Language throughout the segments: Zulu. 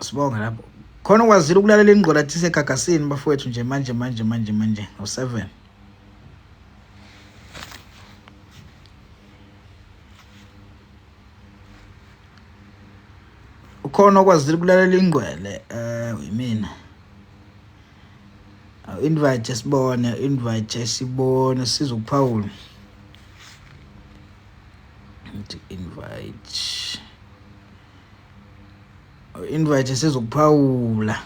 Sibonga lapho. Khona ukwazile ukulalela ingqola athi segagasini bafowethu nje manje manje manje manje ngo-7. Ukhona okwazile ukulalela ingqwele eh yimina. Aw invite sibone, invite sibone sizokuphawula. ngithi invite oh, invite sizokuphawula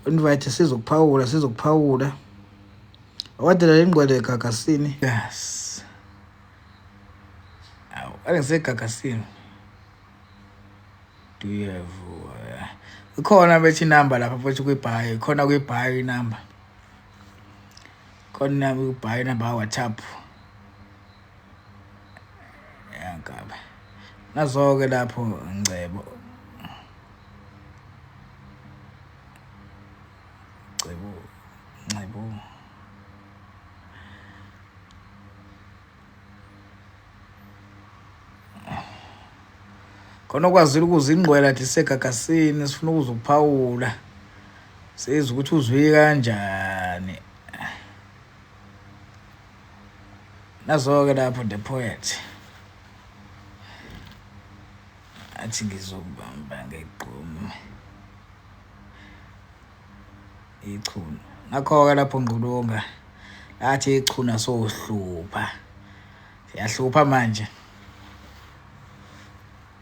Invite sizokuphawula sizokuphawula. Awadela lengqwele egagasini. Yes. Aw, angise egagasini. Do you have uh, ikhona bethi number lapha futhi kwibhayi, ikhona kwibhayi inumber. Khona kwibhayi inumber WhatsApp. yangaba nazoke lapho ngcebo cebo ngcebo khona okwazile ukuze ingqwela thi segagasini sifuna ukuze ukuphawula sezi ukuthi uzwike kanjani nazoke lapho the poet athi ngizokubamba ngegqumu ichunu nakho-ke lapho ngqulunga lathi ichuna sohlupha siyahlupha manje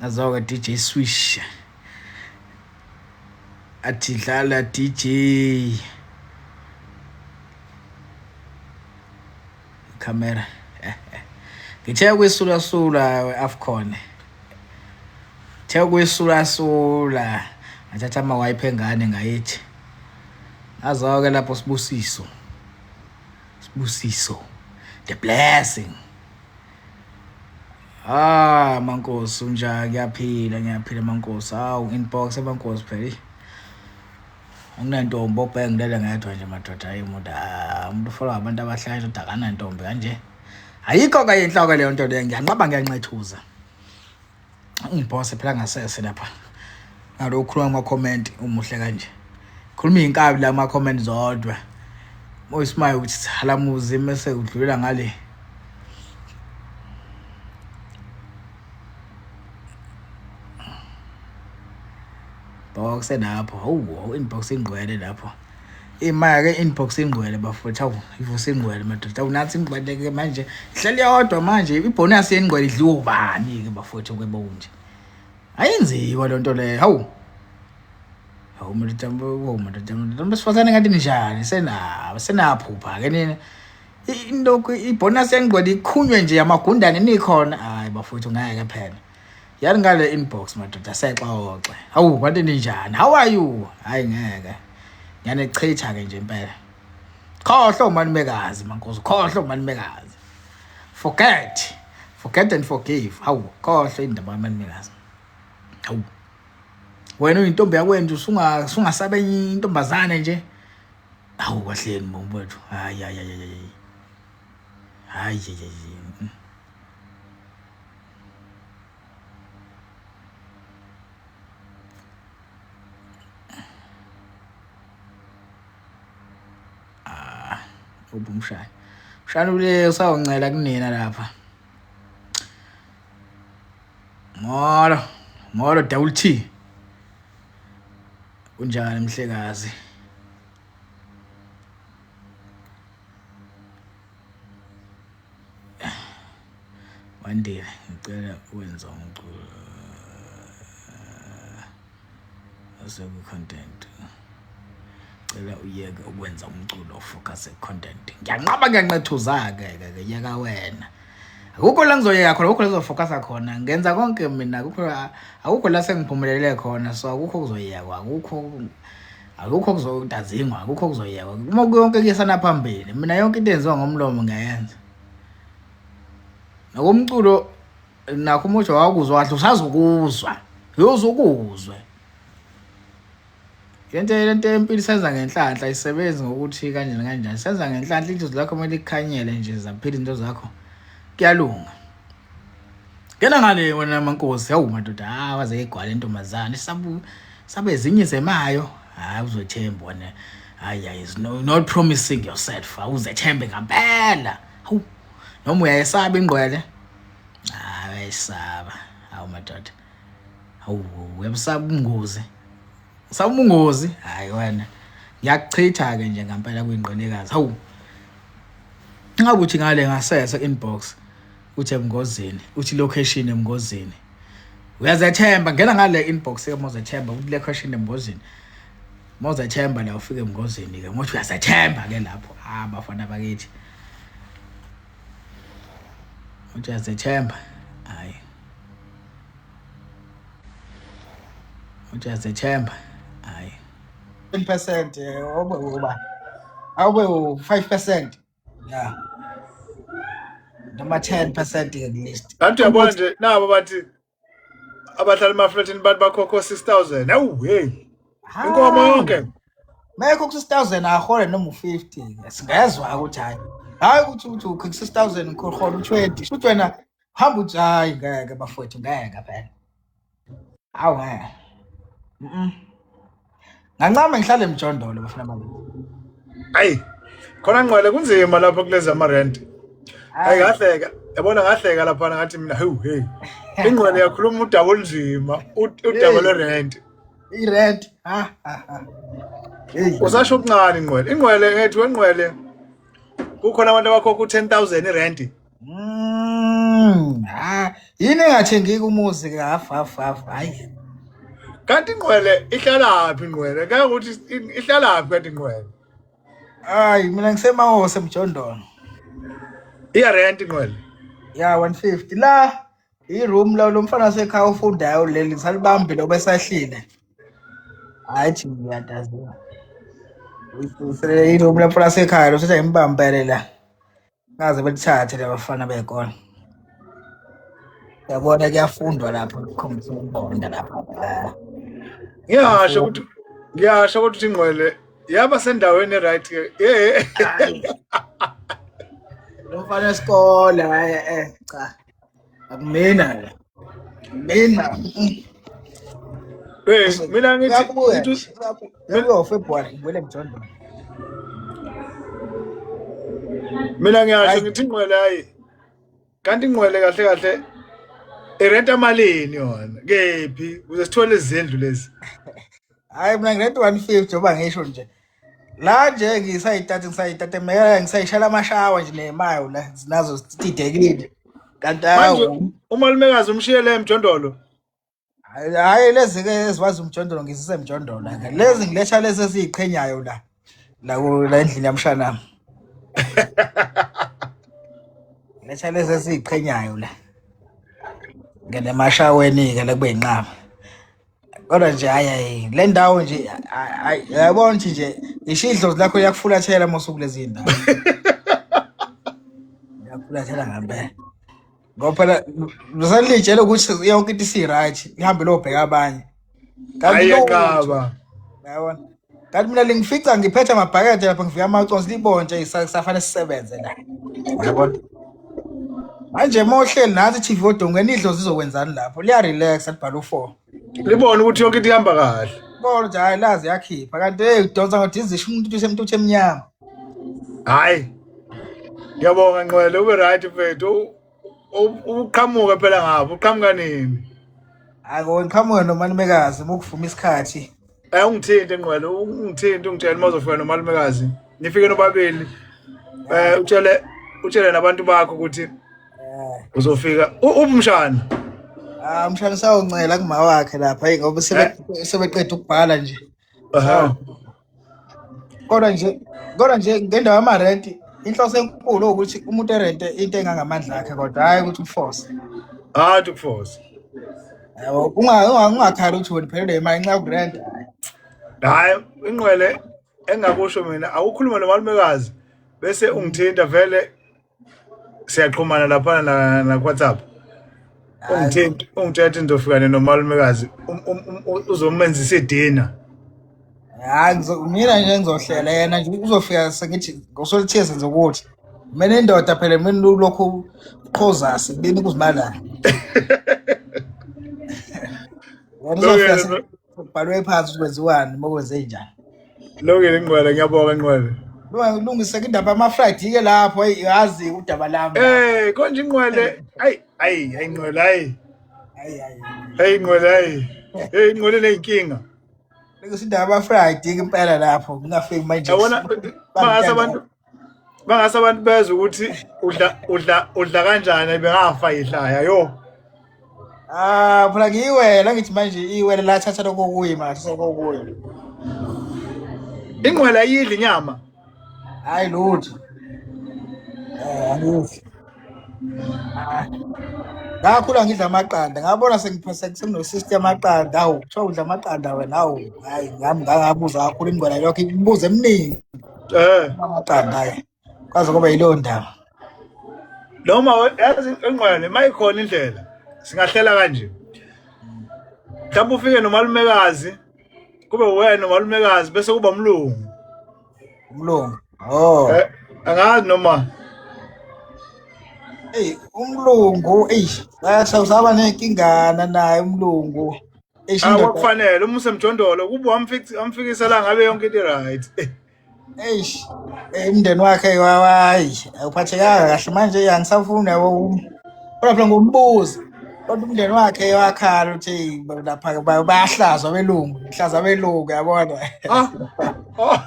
Nazoke DJ Swish. Athi dlala DJ. Camera. Ngithe kwisula sula weAfcon. Ngithe kwisula sula. Ngathatha ama wipe engane ngayithi. Azoke lapho sibusiso. Sibusiso. The blessing. Ah mankosi unjani ngiyaphila ngiyaphila mankosi hawu inbox emankosi phela unentombi obheke ngilele ngedwa nje madoda hayi umuntu ah, umuntu ufolwa abantu abahlaya ukuthi akanantombi kanje ayikho kanye inhloko leyo nto leyo ngiyanqaba ngiyancethuza Ngiphose phela ngasese lapha. Ngalo ukhuluma ama comment umuhle kanje. Khuluma inkabi la ama comment zodwa. Moyismaye ukuthi sala muzi mase udlulela ngale. Boxe lapho. Hawu inbox ingqwele lapho. imaya ke inbox ingcwele bafowethu awu ivusa ingcwele madoda awu nathi ingcwele ke manje ihleli yodwa manje ibonus yengcwele idliwa ubani ke bafowethu kwebo kunje ayinziwa le nto leyo hawu hawu madoda hawu madoda madoda besifazane ngathi ninjani sena senaphupha ke nina into ibonus yengcwele ikhunywe nje amagundane nikhona hayi bafowethu ngeke phela yani ngale inbox madoda sexoxe hawu kwathi ninjani how are you hayi ngeke ngane chitha ke nje impela khohlo umanumekazi mankosi khohlo umanumekazi forget forget and forgive hawu khohlo indaba yamanumekazi hawu wena uyintombi yakwenje usunga sungasabe intombazane nje hawu kwahleni bombo wethu hayi hayi hayi hayi hayi ah, uphi umshana umshana ule usawuncela kunina lapha molo molo double t kunjani mhlekazi one day ngicela ukwenza umculo oseku-content cela uyeke ukwenza umculo ofocuse content ngiyanqaba ngiyanqethuza-ke ke yeka wena akukho la ngizoyeka khona akukho la ngizofocasa khona ngenza konke mina akukho akukho la sengiphumelele khona so akukho kuzoyekwa akukho akukho kuzodazingwa akukho kuzoyekwa uma kuyonke kuyesana phambili mina yonke into enziwa ngomlomo ngiyayenza nakomculo nakho umusho wakuzwa kahle usazokuzwa yozokuzwe Lento lento yempilo senza ngenhlanhla isebenzi ngokuthi kanjani kanjani senza ngenhlanhla into zakho kumele ikhanyele nje zaphila into zakho kuyalunga Ngena ngale wena mankosi hawu madoda ah waze igwala intombazane sabu sabe ezinye zemayo hayi uzothemba wena hayi hayi is no, not promising yourself awuzethembe ngampela hawu noma uyayesaba ingqwele hayi ayisaba hawu madoda hawu uyabusaba ubungozi usaba ubungozi hayi wena ngiyakuchitha-ke nje ngampela kwingqinekazi hawu ingabe uthi ngale ngasese inbox uthi emngozini uthi location emngozini uyazethemba ngena ngale inbox yamozethemba uthi le question emngozini mozethemba la ufike emngozini-ke ngothi uyazethemba-ke lapho ah bafana bakithi Ujazethemba hayi ujazethemba hayi 10 percent awube uba awube u-5 percent ya noma 10 percent ke kulist kanti uyabona nje nabo bathi abahlala emaflatini bathi bakhokho 6000 awu hey inkomo yonke mekho ku 6000 ahole noma u50 singezwa ukuthi hayi hayi ukuthi uthi ukho 6000 ngikhohola u20 futhi wena hamba uthi hayi ngeke bafowethu ngeke phela awu ngeke ngancama ngihlale emjondolo bafuna mali ayi khona ngqwele kunzima lapho kulezi amarent ayi ngahleka yabona ngahleka lapha ngathi mina hewu hey ingqwele yakhuluma udaba olunzima udaba lwerent irent ha ha ha usasho okuncane ingqwele ingqwele ngethi wengqwele kukhona abantu abakhokha u-10000 irenti Mm, ah, yini engathengeki umuzi ke half half half hayi. Kanti ingqwele ihlalaphi ingqwele? Ngeke ukuthi i- ihlalaphi kanti ingqwele? Hayi mina ngisemahose mjondolo. Iya rent ingqwele. Ya 150 la iroom la lo mfana sekhaya ufundayo leli ngisalibambile obesahlile. Hayi thi ngiyadaziwa. Uyiphusele iroom la mfana sekhaya lo sethi ayimbambele la. ngaze belithathe labafana bey'kole yabona kuyafundwa lapho kukhombisa ukubonda lapho Ah, ngiyasho ukuthi ngiyasho kodwa ukuthi ingqwele yaba sendaweni e-right ke Eh, hhayi lo mfana wesikole hhayi eh cha Akumina. Mina. Eh, mina ngithi Uyabuya ngithi nje. Uyabuya. Uyabuya February. Ngibuyele emjondolo. mina ngiyasho Hayi. ngithi ingqwele hayi. Kanti ingqwele kahle kahle irenta malini yona? Kephi? Kuze sithole izindlu lezi. Hayi mina ngirent 150 njengoba ngisho nje. la nje ngisayithathe ngisayithathe meka ngisayishela amashawa nje ney'mayo la zinazo zididekile kanti manje awu umalumekazi umshiyele emjondolo hhayi lezi-ke eziwazi umjondolo ngizise mjondolo ke lezi ngiletha lezi eziyiqhenyayo la la ku- la endlini yamshanami ngiletha lezi eziyiqhenyayo la ngene emashaweni-ke la kube yinqaba kodwa nje hayi hayi le ndawo nje hayi yabona nje nje ngisho idlozi lakho liyakufulathela uma usuku lezi ndawo liyakufulathela ngempela ngoba phela lusanilitshela ukuthi yonke into isi-right lihambe lobheka abanye kanti hayi lo enqaba yabona kanti mina lingifica ngiphethe amabhakede lapha ngivika amaconsi libonje isafanele sisebenze la yabona manje uma uhleli nathi chief odongweni idlo zizokwenzani lapho liyarelaxa libhala u-four libone ukuthi yonke into ihamba kahle bona nje hhayi lazi yakhipha kanti eyi udonsa ngodizisha umuntu uthushe umuntu uthi emnyama hhayi ngiyabonga nqwele ube right mfethu uqhamuka phela ngapha uqhamuka nini hayi ko ngiqhamuka nomalumekazi bokuvuma isikhathi eh ungithinte ngqwele ungithinte ungitshela uma uzofika nomalumekazi nifike nobabili eh utshele utshele nabantu bakho ukuthi eh. uzofika ubumshana ah umshana sawuncela kuma wakhe lapha ngoba sebeqeda ukubhala nje Aha. kodwa nje kodwa nje ngendawo yamarenti inhloso enkulu ukuthi umuntu erente into engangamandla akhe kodwa hhayi ukuthi uforce Hayi to force. yabo Unga- unga- ungakhali ukuthi wena phelelwe imali nxa ukurenta Hayi inqwele engakusho mina awukhuluma nomalumekazi bese ungithinta vele siyaxhumana laphana na, na WhatsApp ungithinta ungithethe ngizofikane nomalumekazi um- um- um- u- uzomenzisa idina hayi ngizo- mina nje ngizohlela yena nje uzofika sengithi ngosolithiye senze ukuthi mina indoda phela mina ulokhu uqhoza sibini kuzibalana wena uzofika Lungelo, se- Kubhalwe phansi ukuthi kwenziwani uma kwenzenjani. Lungile Nqwele, ngiyabonga Nqwele. Lwa- Lungise indaba yama-fried ke lapho eyi yazi udaba lami lapho. Eh, konje Nqwele. Ay, ay, ay Nqwele, ay. Hayi, hayi. Hey Nqwele, ay. Hey Nqwele leyinkinga. Lungise indaba yama-fried ke impela lapho ngingafiki manje. Yabona bahasa abantu bangase abantu bezwe ukuthi udla udla udla kanjani bengafa idlaya yo ah phela ngiyiwela ngithi manje iwela la thatha lokho kuyi manje sokokuyi ingqwela yidla inyama hayi lutho eh angidli ah. ngakhula ngidla amaqanda ngabona senginosystem amaqanda awu kuthiwa udla amaqanda wena awu hayi ngami ngangabuza kakhulu ingqwela yokho imibuzo eminingi eh amaqanda hayi kwaze kube yileyo ndaba noma yazi engqwele mayikhona indlela singahlela kanje mhlawumbe ufike nomalumekazi kube wena nomalumekazi bese kuba umlungu umlungu oh eh, angazi noma Eyi umlungu eyi sawusaba nenkingana naye umlungu. Eish, Ah indoda- kwakufanele uma usemjondolo kube wamfik- wamfikisa la ngabe yonke into right. eish, eh, umndeni wakhe wawayi awuphathekanga kahle manje ya ngisafuna wo- kodwa phela ngombuzo kodwa umndeni wakhe wakhala ukuthi lapha ba- bayahlazwa belungu hlaza belungu yabona Ah. Oh.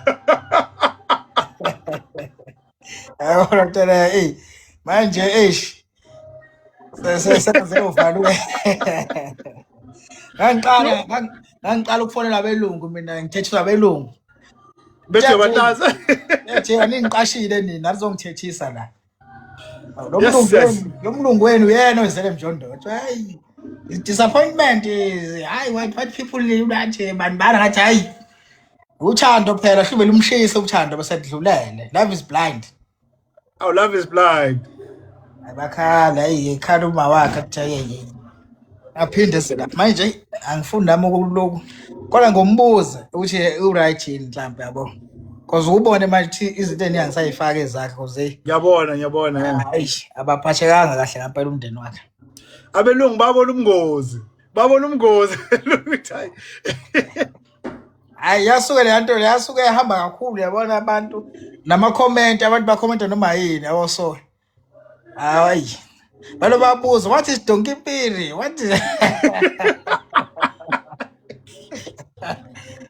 yabona kutela eyi manje eish sesenze uvalwe ngangiqala ngangi- ngangiqala ukufonela abelungu mina ngithethiswa abelungu bethi Ngiyathini. uyabatasa ethi aningiqashile nina alizongithethisa la lo Yes, mlungu yes. wenu lo mlungu wenu yena ozele mjondotho hayi disappointment is hayi white white people nje bantu bana ngathi hayi uthando phela hlube lumshise uthando besedlulele love is blind Our love is blind. Abakhala hey ekhala uma wakhe kuthiye yini. Aphinde sela. Manje angifuni nami ukuloku. Kodwa ngombuze ukuthi u right yini mhlambe yabo. Cause ubone manje ukuthi izinto eningisayifaka ezakhe cause Ngiyabona, ngiyabona. yeah. hayi abaphathekanga kahle ngempela umndeni wakhe. Abelungu babona ubungozi. Babona ubungozi. Ukuthi, hayi. hayi yasuke leya nto leya yasuke yahamba kakhulu yabona abantu namakhomenti abantu bakhomenta noma yini yabo so hayi balo babuza what is donkey piri what is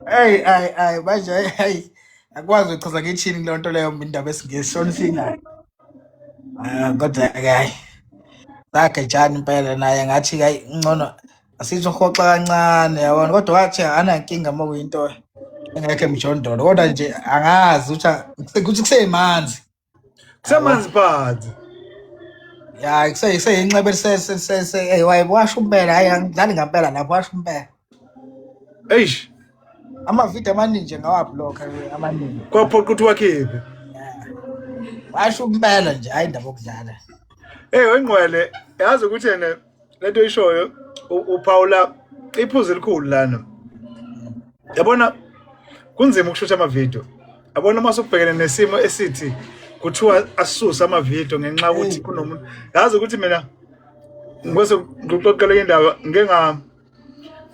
Hey, ay, ay, manje hey, akwazi ukuchaza ngithini kuleyo nto leyo indaba esingesi shona isingayo. Ah, kodwa ke hayi. Sakhe njani impela naye ngathi hayi ngcono Sizohoxa kancane yabona kodwa wathi anankinga uma kuyinto engekho emjondolo kodwa nje angazi ukuthi kuse- ukuthi kusemanzi Kusemanzi phansi. ya kuse- kuseyinxeba eliseywaye washo umpela hhayi angidlali ngampela lapho washo umpela Eish, amavidiyo amaningi nje ngawabhlokha amaningi kwaphoqa ukuthi wakhiphe. washo umpela nje hhayi indaba yokudlala Hey, wengqwele, yazi ukuthi yena lento oyishoyo uphawula iphuzu elikhulu lana yabona kunzima ukushutha amavidiyo yabona uma sokubhekene nesimo esithi kuthiwa asuse amavidiyo ngenxa yokuthi kunomuntu yazi ukuthi mina ngose ngixoxele indaba ngenga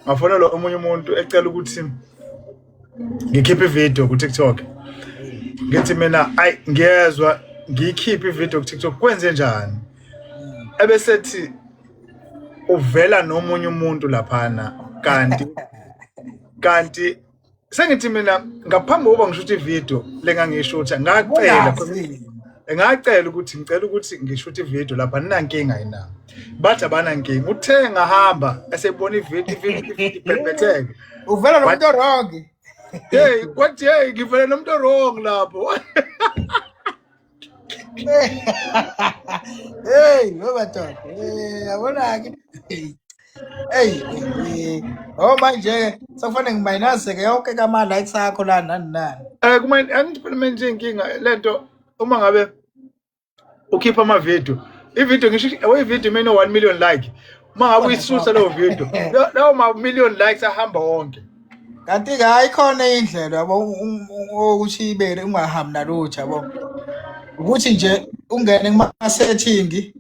ngafonelwa omunye umuntu ecela ukuthi ngikhiphe ivideo ku-tiktok ngithi mina ayi ngiyezwa ngiyikhiphe ivideo ku-tiktok kwenze njani ebesethi uvela nomunye umuntu laphana kanti kanti sengithi mina ngaphambi kokuba ngisho ukuthi ivideo lengangisho ukuthi ngacela ngacela ukuthi ngicela ukuthi ngisho ukuthi ivideo lapha ninankinga yina bathi abanankinga uthe ngahamba esebona ivideo ibhebhetheke uvela nomuntu orongi hey kwathi hey ngivele nomuntu orongi lapho Hey, wewe watoto. Eh, yabona ke. Hey, eh, oh manje sekufanele ngiminuse ke yonke kama likes akho la nani nani. Eh kuma angiphulume nje inkinga lento uma ngabe ukhipha ama video. I video ngisho i video mina 1 million like. Uma ngabe uyisusa leyo video. Lawo ma million likes ahamba wonke. kanti-ke hayi khona indlela yabo ukuthi ibele ungahambi nalutho yabo ukuthi nje ungene kuma-setting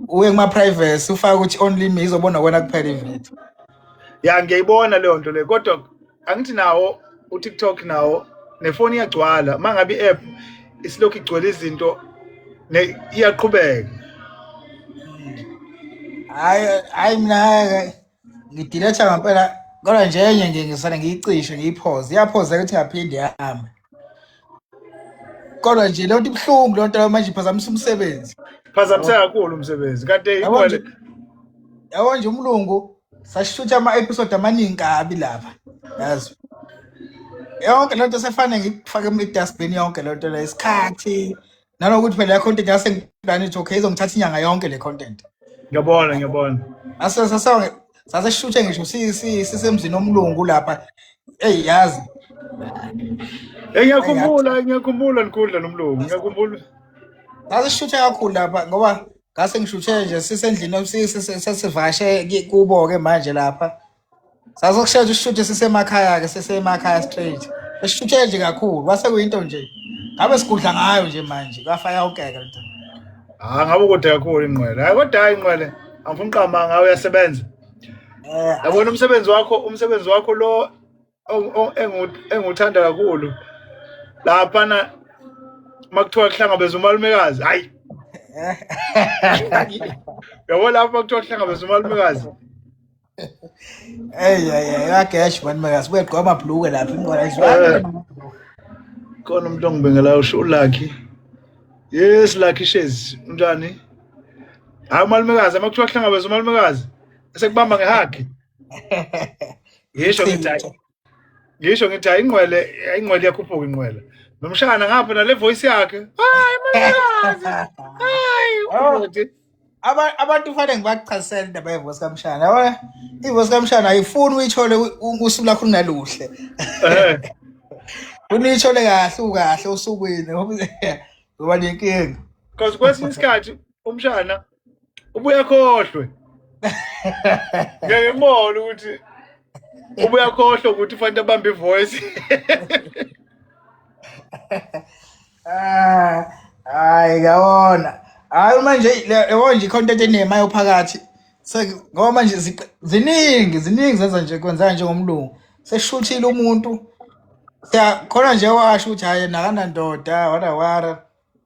uye kuma-privacy ufake ukuthi only me izobona wena kuphela ividiyo ya ngiyayibona leyo nto leyo kodwa angithi nawo utiktok nawo nefoni iyagcwala uma ngabe i-app isilokhu igcwele izinto iyaqhubeka hayi hayi mina ngidiletha ngempela kodwa nje enye nje ngisane ngiyicishe ngiyiphoze iyaphozeka ukuthi ngaphinde yahambe kodwa nje lento ibuhlungu lonto leyo manje iphazamisa umsebenzi phazamisa kakhulu umsebenzi kanti ikwale yabo nje umlungu sashutha ama-episode amaningi kabi lapha yazi yonke lento sefane ngikufake idustbin yonke lento leyo isikhathi nanokuthi phela i-content yasengilani ithi okay izongithatha inyanga yonke le content ngiyabona ngiyabona Ase- sase- saseshuthe ngisho si- si- sisemzini omlungu lapha eyi yazi Eh, ngiyakhumbula ngiyakhumbula likhundla nomlungu ngiyakhumbula sasishuthe kakhulu lapha ngoba ngase ngishuthe nje sisendlini si- si- si- sesivashe ki- kubo-ke manje lapha sazokushesha usishuthe sisemakhaya-ke sisemakhaya straight esishuthe nje kakhulu kwase kuyinto nje ngabe sigudla ngayo nje manje kwafaya ukeke lento ha ngabe kude kakhulu inqwele hayi kodwa hayi inqwele angifuni qamba ngawe uyasebenza eh, yabona umsebenzi wakho umsebenzi wakho lo engiwuthanda kakhulu laphana uma kuthiwa kuhlangabeza umalumekazi hayi yabo lapho uma kuthiwa kuhlangabeza umalumekazi eyi yagesh mani makazi kuyegqwa amabhluke lapha eh. khona umuntu ongibengelayo usho ulakhi yes lakhi shezi unjani hayi umalumekazi uma kuthiwa kuhlangabeza umalumekazi esekubamba ngehagi ngisho ngithi hayi ngisho ngithi hayi inqwele inqwele iyakhuphuka inqwele nomshana ngapha nale voice yakhe hayi makazi hayi Oh, ubhuti aba- abantu kufanele ngibachasisele indaba yevosi kamshana yabona ivosi kamshana ayifuni uyithole u- u- usuku lakho lunaluhle eh funa uyithole kahle ukahle osukwini ngoba nenkinga cause kwesinye isikhathi umshana ubuya khohlwe ngeke mona ukuthi ubuya khohlwe ukuthi ufanele abambe ivoice ah hayi ngawona hayi manje yebo nje content enemayo phakathi so ngoba manje ziningi ziningi zenza nje kwenzeka njengomlungu seshuthile umuntu siyakhona nje washo ukuthi hhayi nakanandoda wara wara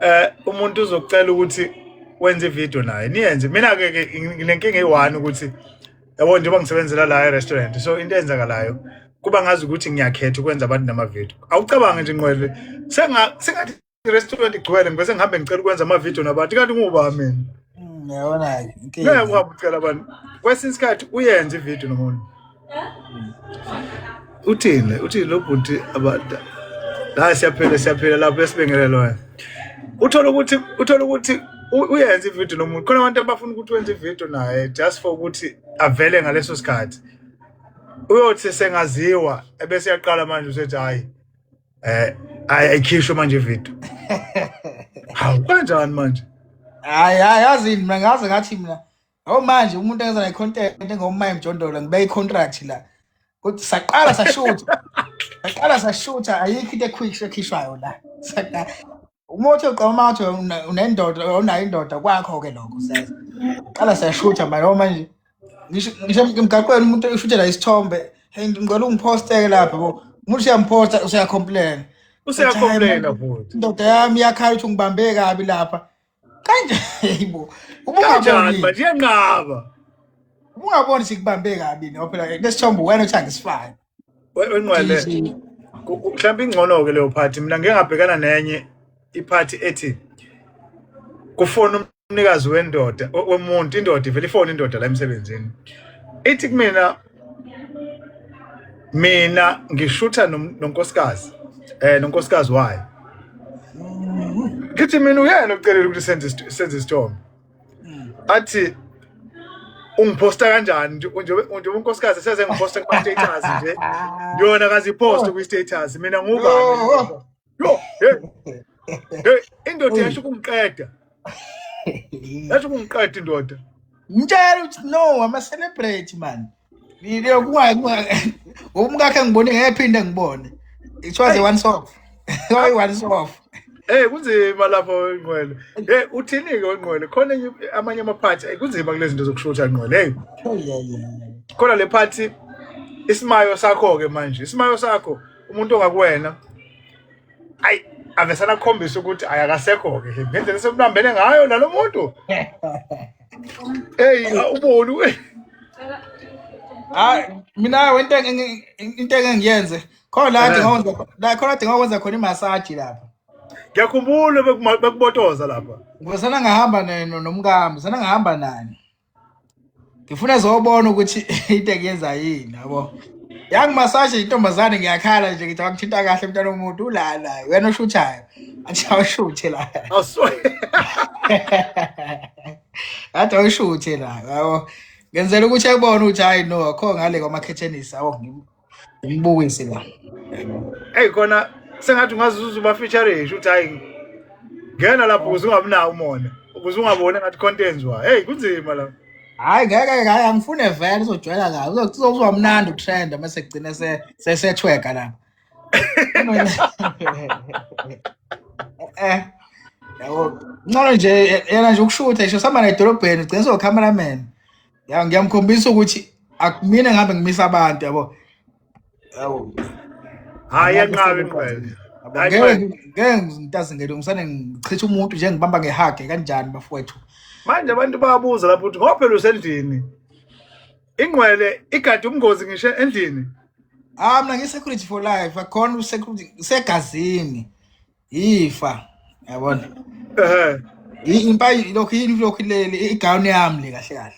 eh umuntu uzokucela ukuthi wenze video naye niyenze mina ke nginenkinga eyi-one ukuthi yabo njengoba ngisebenzela la e-restaurant so into eyenzakalayo kuba ngazi ukuthi ngiyakhetha ukwenza abantu namavidiyo awucabange nje nqwele sengathi i-restaurant igcwele ngibe sengihambe ngicela ukwenza amavidiyo nabantu kanti nguba mina mm, yabona-ke ngeke uhambe ucela abantu kwesinye isikhathi uyenze ividiyo nomuntu uthini uthini lo bhuti abantu la siyaphela siyaphela lapho esibengele loya uthola ukuthi uthola ukuthi uyenza ivideo nomuntu khona abantu abafuna ukuthi wenze ivideo naye just for ukuthi avele ngaleso sikhathi uyothi sengaziwa ebese yaqala manje usethi hayi eh ayikhishwe manje ivideo hawu kanjani manje hayi hayi yazi mina ngaze ngathi mina Awu manje umuntu enza la content engomma emjondolo ngibe i contract la. Kuthi saqala sashoot. Saqala sashoot ayikho into equick ekhishwayo la. Saqala uma uthi uqoma uthi una- unendoda unayo indoda kwakho ke lokho senza. Qala sashoot manje awu manje ngisho ngisho emgaqweni umuntu ushutela isithombe hey ngicela ungiphoste lapha bo. Umuntu uyamposta usuyacomplain. Uthi hayi manje useyakhombulena futhi indoda yami iyakhala ukuthi ungibambe kabi lapha kanje yibo kanjani manje iyanqaba ungaboni sikubambe kabi no phela lesithombo wena uthi angisifani wenqwele mhlawumbe ingcono-ke leyo phathi mina ngike ngabhekana nenye iphathi ethi kufona umnikazi wendoda womuntu indoda ivele ifone indoda la emsebenzini ithi kumina mina ngishutha nonkosikazi eh nonkosikazi wayo ngithi mina uyena ocelela ukuthi senze senze isithombe athi ungiphosta kanjani njengoba unkosikazi seze ngiphosta kuma status nje yona kazipost kwi status mina ngubani Yo, hey. Hey, indoda Uy. yasho ukungiqeda. Yasho ukungiqeda indoda. Mtshela ukuthi no ama celebrate man. Ngile kunga kunga umkakhe ngibone ngephinda ngibone. It was a once off. Why once off? Eh kunzima lapho ingqwele. Eh uthini ke ingqwele? Khona enye- amanye ama party eh, kunzima kulezi zinto zokushutha ingqwele. Hey, Oh yeah yeah. yeah. khona le party isimayo sakho ke manje. Isimayo sakho umuntu ongakuwena ayi avesana akukhombisa ukuthi ayakasekho-ke ngendlela esemlambele ngayo nalo muntu eyi uboni we hayi mina wento engi- into engeke ngiyenze khona la adinga ukwenza kho- la khona adinga ukwenza khona imasaji lapha ngiyakhumbula bekuma- bekubotoza lapha ngivesana ngahamba ne- no- nomkami sana ngahamba nani ngifuna zobona ukuthi into engiyenza yini yabo yangimasaje intombazane ngiyakhala nje ngithi akuthinta kahle mntana womuntu ulala wena oshuthayo athi awushuthe la athi awushuthe la yabo ngenzela ukuthi ayibone ukuthi hayi no akho ngale kwamakhethenisi awu umbukise la eyi kona sengathi ungazuza uba feature esho ukuthi hayi ngena lapho ukuze ungabi nawo umona ukuze ungaboni ngathi khonto enziwa heyi kunzima la hayi ngeke hayi angifune vele uzojwayela la uzozwa mnandi utrend uma sekugcine sesethweka lapho eh yabo ngcono nje yena nje ukushutha isho sihamba nedolobheni ugcina sowukhameraman Ya ngiyamkhombisa ukuthi akumina ngabe ngimisa abantu yabo. Yabo. Hayi enqabe ingqwele. Ngeke ngeke ngitazi ngeke ngisane ngichitha umuntu nje ngibamba ngehage kanjani bafowethu. Manje abantu bayabuza lapho ukuthi ngoba phela usendlini. Ingqwele igade umngozi ngisho endlini. Ah mina ngi security for life akhona usecurity segazini. yifa yabona ehe impayi lokhu yini lokhu leli igown yami le kahle kahle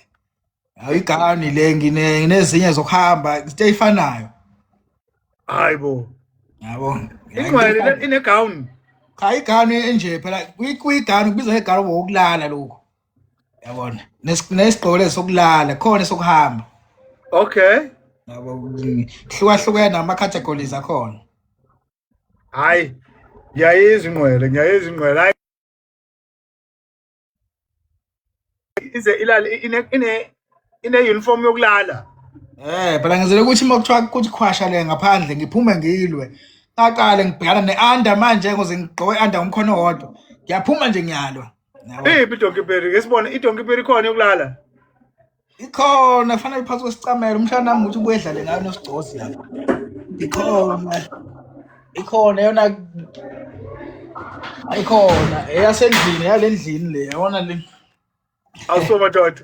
hayi igown le ngine nginezinye zokuhamba into efanayo hayi bo yabo ingcwele ine gown cha igown enje phela kuyigown kubizwa igown wokulala lokho yabona nesigqoko lesi sokulala khona sokuhamba okay yabo hlukahlukene ama categories akhona hayi ngiyayizwa ingqwele ngiyayizwa ingqwele hayi ize ilale ine ine ine uniform yokulala eh phela ngizele ukuthi uma kuthiwa kuthi khwasha le ngaphandle ngiphume ngilwe aqale ngibhekana ne-under manje ngoze ngigqoke under ngomkhono wodwa ngiyaphuma nje ngiyalwa iphi idonki peri ngesibona idonki peri khona yokulala ikhona kufanele phansi kwesicamelo umshana nami ukuthi ubuye edlale ngayo nosigcozi lapho ikhona ikhona yona ayikhona eyasendlini yalendlini le yabona le awuso madoda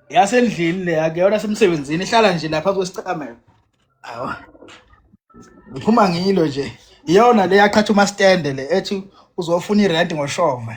yasendlini le akuyona semsebenzini ihlala nje lapha kwesicamelo awa ngiphuma ngilo nje iyona le yaqhatha umastende le ethi uzofuna irent ngoshova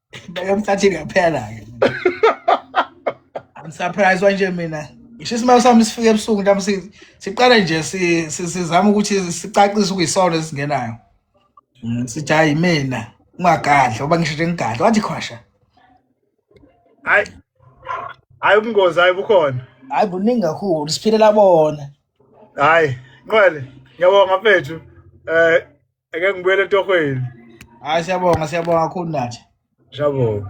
Bayomhlathini yaphela-ke. I'm surprised wanje mina. Ngisho isimali sami sifike ebusuku nami si- siqala nje si- si- sizama ukuthi sicacise ukuyisona esingenayo. Mm, Sithi hayi mina ungagadla uba ngisho nje ngigadla wathi khwasha. Hayi. Hayi ubungozi hayi bukhona. Hayi buningi kakhulu siphilela bona. Hayi, Nqwele, ngiyabonga mfethu. Eh Ake ngibuyele etohweni. Hayi siyabonga siyabonga kakhulu nathi. Siyabonga.